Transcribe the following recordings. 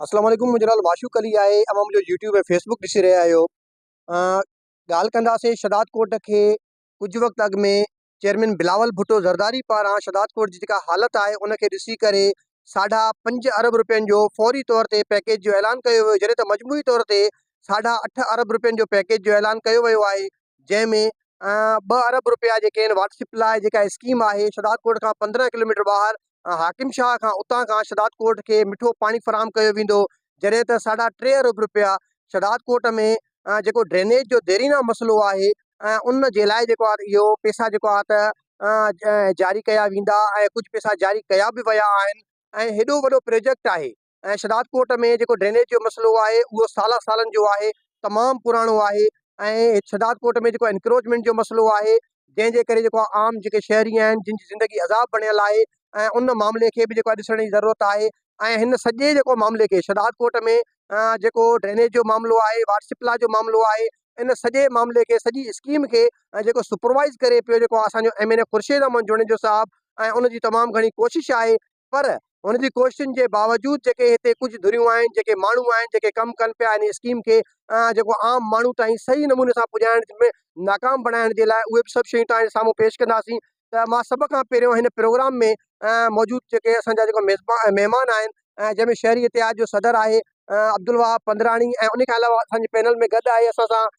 اسلام عليڪم منهنجو نالو معشوق علي آهي اوهان منهنجو يوٽيوب ۽ فيس بڪ ڏسي رهيا آهيو ڳالهه ڪنداسي شهداد ڪوٽ کي ڪجهه وقت اڳ ۾ چيئرمين بلاول ڀٽو زرداري پاران شهداد ڪوٽ جي جيڪا حالت آهي ان کي ڏسي ڪري ساڍا پنج ارب روپين جو فوري طور تي پيڪيج جو اعلان ڪيو ويو جڏهن ته مجموعي طور تي ساڍا اٺ ارب روپين جو پيڪيج جو اعلان ڪيو ويو آهي جنهن ۾ ٻه ارب رپيا جيڪي آهن واٽر سپلائي جيڪا اسڪيم آهي شھداد ڪوٽ کان پندرهن ڪلوميٽر ٻاهر حاڪم شاهه کان اتان کان شھداد ڪوٽ کي مٺو پاڻي فراهم ڪيو ويندو جڏهن ته ساڍا ٽي ارب رپيا شھداد ڪوٽ ۾ جيڪو ڊرينيج جو ديرينا مسئلو آهي ان جي لاء جيڪو آهي اهو پيسا جيڪو آهي ته جاري ڪيا ويندا ۽ ڪجهه پيسا جاري ڪيا به ويا آهن ۽ هيڏو وڏو پروجيڪٽ آهي ۽ شھدادڪوٽ ۾ جيڪو ڊرينيج جو مسئلو آھي اھو سالان سالن جو آھي تمام پراڻو آھي ۽ شھدادڪوٽ ۾ جيڪو انڪروچمينٽ جو مسئلو آھي جنھن جي ڪري جيڪو عام جيڪي شھري آھن جن جي زندگي عذاب بڻيل آھي ۽ ان معاملي کي به جيڪو آھي ڏسڻ جي ضرورت آھي ۽ ھن سڄي جيڪو معاملي کي شھدادڪوٽ ۾ جيڪو ڊرينيج جو معاملو آھي واٽر سپلاء جو معاملو آھي ان سڄي معاملي کي سڄي اسڪيم کي جيڪو سپروائز ڪري پيو جيڪو اسان جو M N A Khursheed Ahmed Junejo صاحب ۽ ان جي تمام گھڻي ڪوشش آھي پر هن جي ڪوششن جي باوجود جيڪي هتي ڪجهه ڌريون آهن جيڪي ماڻهو آهن جيڪي ڪم ڪن پيا ان اسڪيم کي جيڪو عام ماڻهو تائين صحيح نموني سان پڄائڻ ۾ ناڪام بڻائڻ جي لاء اهي به سڀ شيون توهان جي سامهون پيش ڪنداسين ته مان سڀ کان پهريون هن پروگرام ۾ موجود جيڪي اسان جا جيڪو ميزبان مهمان آهن جنهن ۾ شهري اتحاد جو صدر آهي عبدالوهاب پندراڻي ۽ ان کان علاوه اسان جي پينل ۾ گڏ آهي اسان سان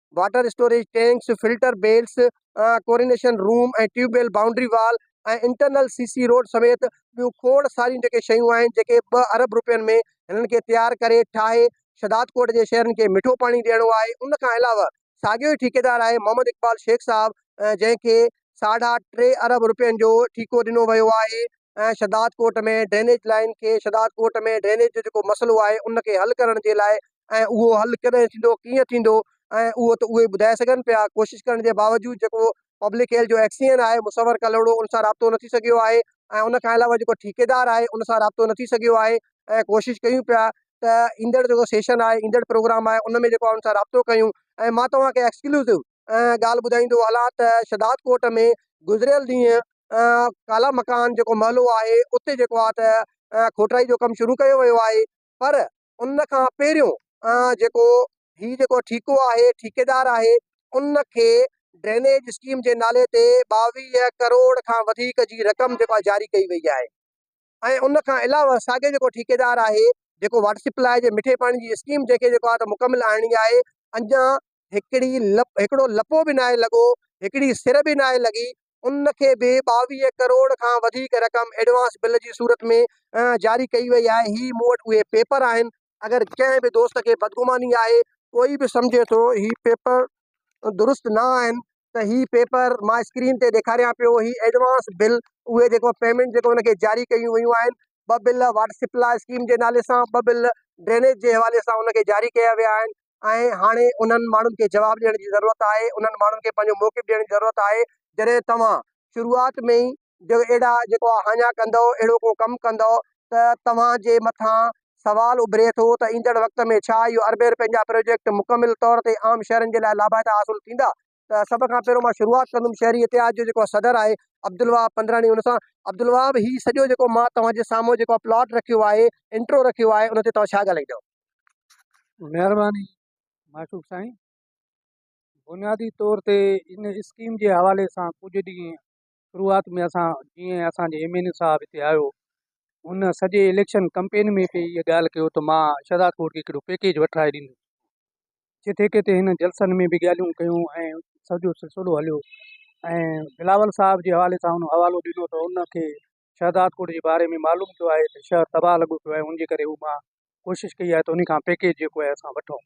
water storage tanks, filter bells, chlorination room ۽ tube well boundary wall ۽ internal C C road سميت ٻيون کوڙ ساريون جيڪي شيون آهن جيڪي ٻه ارب روپين ۾ هنن کي تيار ڪري ٺاهي شھدادڪوٽ جي شھرين کي مٺو پاڻي ڏيڻو آهي ان کان علاوه ساڳيو ئي ٺيڪيدار آهي محمد اقبال شيخ صاحب جنهن کي ساڍا ٽي ارب روپين جو ٺيڪو ڏنو ويو آهي شھدادڪوٽ ۾ ڊرينيج لائين کي شھدادڪوٽ ۾ ڊرينيج جو جيڪو مسئلو آهي ان کي حل ڪرڻ جي لاء ۽ اهو حل ڪڏهن ٿيندو ڪيئن ٿيندو ۽ اهو ته اهي ٻڌائي سگهن پيا ڪوشش ڪرڻ جي باوجود جيڪو پبلڪ هيلٿ جو ايڪس سي اين آهي مصور ڪلهوڙو ان سان رابطو نه ٿي سگهيو آهي ۽ ان کان علاوه جيڪو ٺيڪيدار آهي ان سان رابطو نه ٿي سگهيو آهي ۽ ڪوشش ڪيون پيا ته ايندڙ جيڪو سيشن آهي ايندڙ پروگرام آهي ان ۾ جيڪو ان سان رابطو ڪيون ۽ مان توهان کي ايڪسڪلوسو ڳالهه ٻڌائيندو هلان ته شهداد ڪوٽ ۾ گذريل ڏينهن ڪالا مڪان جيڪو محلو آهي اتي جيڪو آهي ته کوٽرائي جو ڪم شروع ڪيو ويو آهي پر ان کان پهريون جيڪو هي جيڪو ٺيڪو آهي ٺيڪيدار آهي ان کي ڊرينيج اسڪيم جي نالي تي ٻاويهه ڪروڙ کان وڌيڪ جي رقم جيڪو آهي جاري ڪئي وئي آهي ۽ ان کان علاوه ساڳيو جيڪو ٺيڪيدار آهي جيڪو واٽر سپلاء جي مٺي پاڻي جي اسڪيم جنهن کي جيڪو آهي مڪمل آڻڻي آهي اڃان هڪڙي لپ هڪڙو لپو به ناهي لڳو هڪڙي سر به ناهي لڳي ان کي به ٻاويهه ڪروڙ کان وڌيڪ رقم ايڊوانس بل جي صورت ۾ جاري ڪئي وئي آهي هي مون وٽ اهي پيپر آهن اگر ڪنهن به دوست کي بدگماني آهي ڪوئي به سمجهي ٿو هي پيپر درست نه آهن ته هي پيپر مان اسڪرين تي ڏيکاريان پيو هي ايڊوانس بل اهي جيڪو پيمنٽ جيڪو ان کي جاري ڪيون ويون آهن ٻه بل واٽر سپلاء اسڪيم جي نالي سان ٻه بل ڊرينيج جي حوالي سان ان کي جاري ڪيا ويا آهن ۽ هاڻي انهن ماڻهن کي جواب ڏيڻ جي ضرورت آهي، انهن ماڻهن کي پنهنجو موقف ڏيڻ جي ضرورت آهي، جڏهن توهان شروعات ۾ ئي جو اهڙا جيڪو آ هاڃا ڪندؤ، اهڙو ڪو ڪم ڪندؤ ته توهان جي مٿان سوال اڀري ٿو ته ايندڙ وقت ۾ ڇا اهو اربين رپين جا پروجيڪٽ مڪمل طور تي عام شهرين جي لاء لاڀائتا حاصل ٿيندا ته سڀ کان پهريون مان شروعات ڪندم شهري اتحاد جو جيڪو صدر آهي عبدالوهاب پنڌراڻي ان سان عبدالوهاب هي سڄو جيڪو مان توهان جي سامهون جيڪو پلاٽ رکيو آهي انٽرو رکيو آهي ان تي توهان ڇا ڳالهائيندو مهرباني معشوق سائين بنيادي طور تي ان اسڪيم جي حوالي سان ڪجهه ڏينهن شروعات ۾ اسان جيئن اسان جي ايم اين اي صاحب ھتي آيو ان سڄي اليڪشن ڪمپين ۾ به اھا ڳالھه ڪيو ته مان شھداد ڪوٽ کي ھڪڙو پيڪيج وٺرائي ڏيندس جتي ڪٿي ھن جلسن ۾ به ڳالھيون ڪيون ۽ سڄو سلسلو ھليو ۽ بلاول صاحب جي حوالي سان ان حوالو ڏنو ته ان کي شھداد ڪوٽ جي باري ۾ معلوم ٿيو آھي ته شھر تباھ لڳو پيو آھي ان جي ڪري ھو مان ڪوشش ڪئي آھي ته ان کان پيڪيج جيڪو آھي اسان وٺون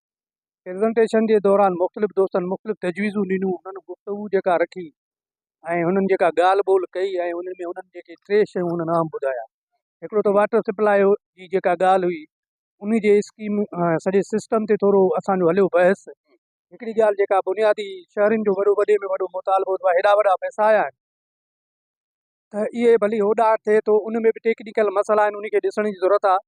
پريزنٽيشن جي دوران مختلف دوستن مختلف تجويزون ڏنيون انهن گفتگو جيڪا رکي ۽ انهن جيڪا ڳالهه ٻولهه ڪئي ۽ انهن ۾ انهن جيڪي ٽي شيون انهن اهم ٻڌايا هڪڙو ته واٽر سپلاء جي جيڪا ڳالهه هئي ان جي اسڪيم سڄي سسٽم تي ٿورو اسان جو هليو بحث هڪڙي ڳالهه جيڪا بنيادي شهرين جو وڏو وڏي ۾ وڏو مطالبو هو هيڏا وڏا پئسا آيا آهن ته اهي ڀلي هوڏانهن ٿئي ٿو ان ۾ به ٽيڪنيڪل مسئلا آهن ان کي ڏسڻ جي ضرورت آهي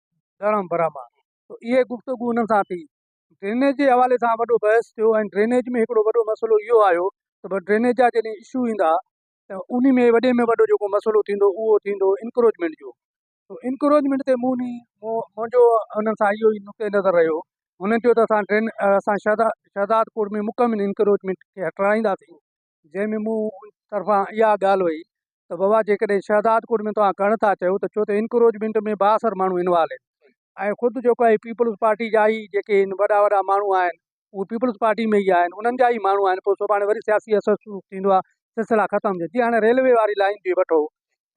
ڏھرام براھما تو اھي گفتگو انھن سان ٿي. ڊرينيج جي حوالي سان وڏو بحث ٿيو ۽ ڊرينيج ۾ ھڪڙو وڏو مسئلو اھو آيو ته بس ڊرينيج جا جڏھن اشو ايندا ته انھي ۾ وڏي ۾ وڏو جيڪو مسئلو ٿيندو اھو ٿيندو انڪروچمينٽ جو تو انڪروچمينٽ تي مون ني منھنجو انھن سان اھو ئي نقطه نظر رھيو ھنن چيو ته اسان ڊرين اسان شھداد ڪوٽ ۾ مڪمل انڪروچمينٽ کي ھٽرائينداسين جنهن ۾ مون طرفان اها ڳالهه هئي ته بابا جيڪڏهن شهدادڪوٽ ۾ توهان ڪن ٿا چيو ته ڇو ته انڪروچمينٽ ۾ بااثر ماڻهو انوالو آهن ۽ خود جيڪو هي پيپلز پارٽي جا ئي جيڪي هن وڏا وڏا ماڻهو آهن اهي پيپلز پارٽي ۾ ئي آهن انهن جا ئي ماڻهو آهن پوء سڀاڻي وري سياسي اثر شروع ٿيندو آهي سلسلا ختم جي هاڻي ريلوي واري لائين جي وٺو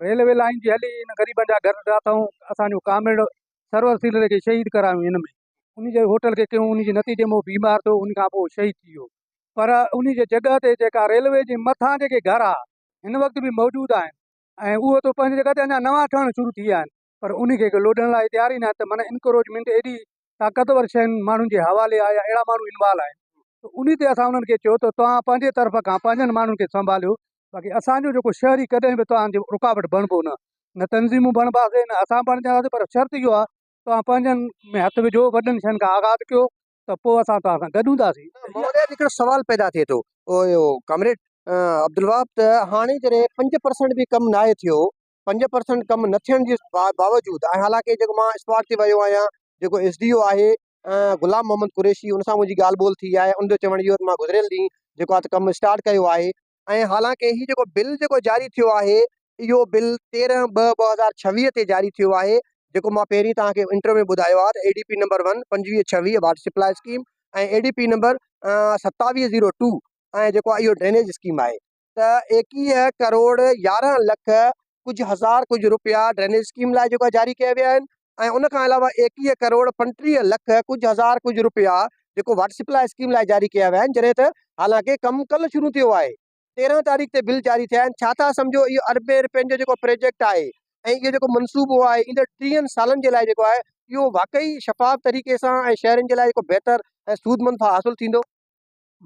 ريلوي لائين جي هلي هن غريبن جا گهر ڊاٿا ۽ اسان جو ڪامريڊ سرور سيلري کي شهيد ڪرايو هن ۾ ان جي هوٽل کي ڪيون ان جي نتيجي ۾ هو بيمار ٿيو ان کان پوء شهيد ٿي ويو پر انهي جي جڳهه تي جيڪا ريلوي جي مٿان جيڪي گهر ها هن وقت به موجود آهن ۽ اهو ته پنهنجي جڳهه تي اڃا نوان ٺهڻ شروع ٿي ويا آهن پر انهي کي ڪو لوڏڻ لاء تيار ئي ناهي ته معنيٰ انڪروچمينٽ ايڏي طاقتور شين ماڻهن جي حوالي آهي يا اهڙا ماڻهو انوالو آهن ته انهي تي اسان انهن کي چيو ته توهان پنهنجي طرف کان پنهنجن ماڻهن کي سنڀاليو باقي اسان جو جيڪو شهري ڪڏهن به توهان جو رڪاوٽ بڻبو نه نه تنظيمون بڻباسين نه اسان بڻجنداسين پر شرط اهو آهي توهان پنهنجن ۾ هٿ وجهو وڏن شين کان آغاز ڪيو ته پوء اسان توهان سان گڏ هونداسين. مهوريء تي هڪڙو سوال پيدا ٿئي ٿو ڪامريڊ عبدالوهاب ته هاڻي جڏهن پنج پرسنٽ به ڪم ناهي ٿيو، پنج پرسنٽ ڪم نه ٿيڻ جي باوجود ۽ حالانڪه جيڪو مان اسپاٽ تي ويو آهيان، جيڪو ايس ڊي او آهي غلام محمد قريشي ان سان منهنجي ڳالهه ٻولهه ٿي آهي، ان جو چوڻ اهو ته مان گذريل ڏينهن جيڪو آهي ته ڪم اسٽارٽ ڪيو آهي، ۽ حالانڪ هي جيڪو بل جيڪو جاري ٿيو آهي اهو بل تيرنهن ٻه ٻه هزار ڇويهه تي جاري ٿيو آهي جيڪو مان پهرين توهان کي انٽرو ۾ ٻڌايو آهي ته A D P number one پنجويهه ڇويهه water supply scheme ۽ A D P number ستاويهه زيرو ٽو ۽ جيڪو اهو ڊرينيج اسڪيم آهي ته ايڪيهه ڪروڙ يارنهن لک ڪجهه هزار ڪجهه روپيا ڊرينيج اسڪيم لاء جيڪو آهي جاري ڪيا ويا آهن ۽ ان کان علاوه ايڪيهه ڪروڙ پنٽيهه لک ڪجهه هزار ڪجهه روپيا جيڪو واٽر سپلاء اسڪيم لاء جاري ڪيا ويا آهن جڏهن ته حالانڪه ڪم ڪل شروع ٿيو آهي تيرهن تاريخ تي بل جاري ٿيا آهن ڇا ٿا سمجهو اهو اربين روپين جو جيڪو پروجيڪٽ آهي ۽ اهو جيڪو منصوبو آهي ايندڙ ٽيهن سالن جي لاء جيڪو آهي اهو واقعي شفاف طريقي سان ۽ شهرين جي لاء جيڪو بهتر ۽ سودمند حاصل ٿيندو.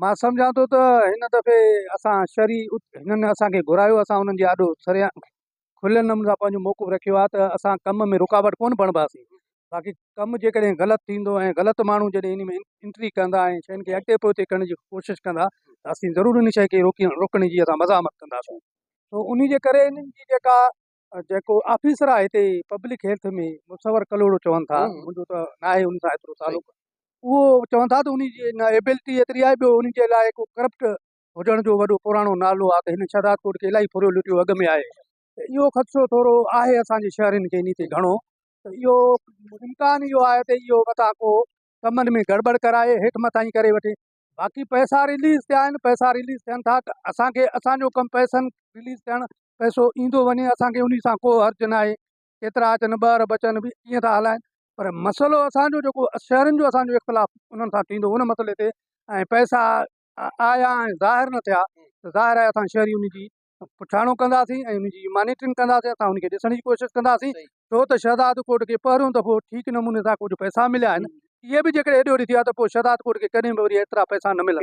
مان سمجهان ٿو ته هن دفعي اسان شھري هنن اسان کي گهرايو اسان انهن جي آڏو سريا کليل نموني سان پنهنجو موقف رکيو آهي ته اسان ڪم ۾ رڪاوٽ ڪونه بڻباسين باقي ڪم جيڪڏهن غلط ٿيندو ۽ غلط ماڻهو جڏهن ان ۾ انٽري ڪندا ۽ شين کي اڳتي پوئتي ڪرڻ جي ڪوشش ڪندا ته اسين ضرور ان شي کي روڪي روڪڻ جي اسان مزاحمت ڪنداسون سو ان جي ڪري انهن جي جيڪا جيڪو آفيسر آهي هتي پبلڪ هيلٿ ۾ مصور ڪلهوڙو چون ٿا منهنجو ته نه آهي ان سان ايترو تعلق اهو چون ٿا ته ان جي نه ايبلٽي ايتري آهي ٻيو ان جي لاء ڪو ڪرپٽ هجڻ جو وڏو پراڻو نالو آهي ته هن شهداد ڪوٽ کي الاهي ڦريو لٽيو اڳ ۾ آهي ته اهو خدشو ٿورو آهي اسان جي شهرين کي ان تي گهڻو ته اهو امڪان اهو آهي ته اهو متان ڪو ڪمن ۾ گڙٻڙ ڪرائي هيٺ مٿانهين ڪري وٺي باقي پئسا رليز ٿيا آهن پئسا رليز ٿين ٿا ته اسانکي اسانجو ڪم پئسن رليز ٿيڻ پئسو ايندو وڃي اسانکي انهي سان ڪو حرج نه آهي ڪيترا اچن ٻه ارب اچن به ڪيئن ٿا هلائن پر مسئلو اسانجو جيڪو شهرين جو اسانجو اختلاف انهن سان ٿيندو ان مسئلي تي ۽ پئسا آيا ۽ ظاهر نه ٿيا ظاهر آهي اسان شهري انهي جي پٺاڻو ڪنداسين ۽ ان جي مانيٽرنگ ڪنداسين اسان ان کي ڏسڻ جي ڪوشش ڪنداسين ڇو ته شهداد ڪوٽ کي پهريون دفعو ٺيڪ نموني سان ڪجهه پئسا مليا آهن اهي به جيڪڏهن هيڏي هوڏي ٿي ويا ته پوء شهداد ڪوٽ کي ڪڏهن به وري ايترا پئسا نه ملندا.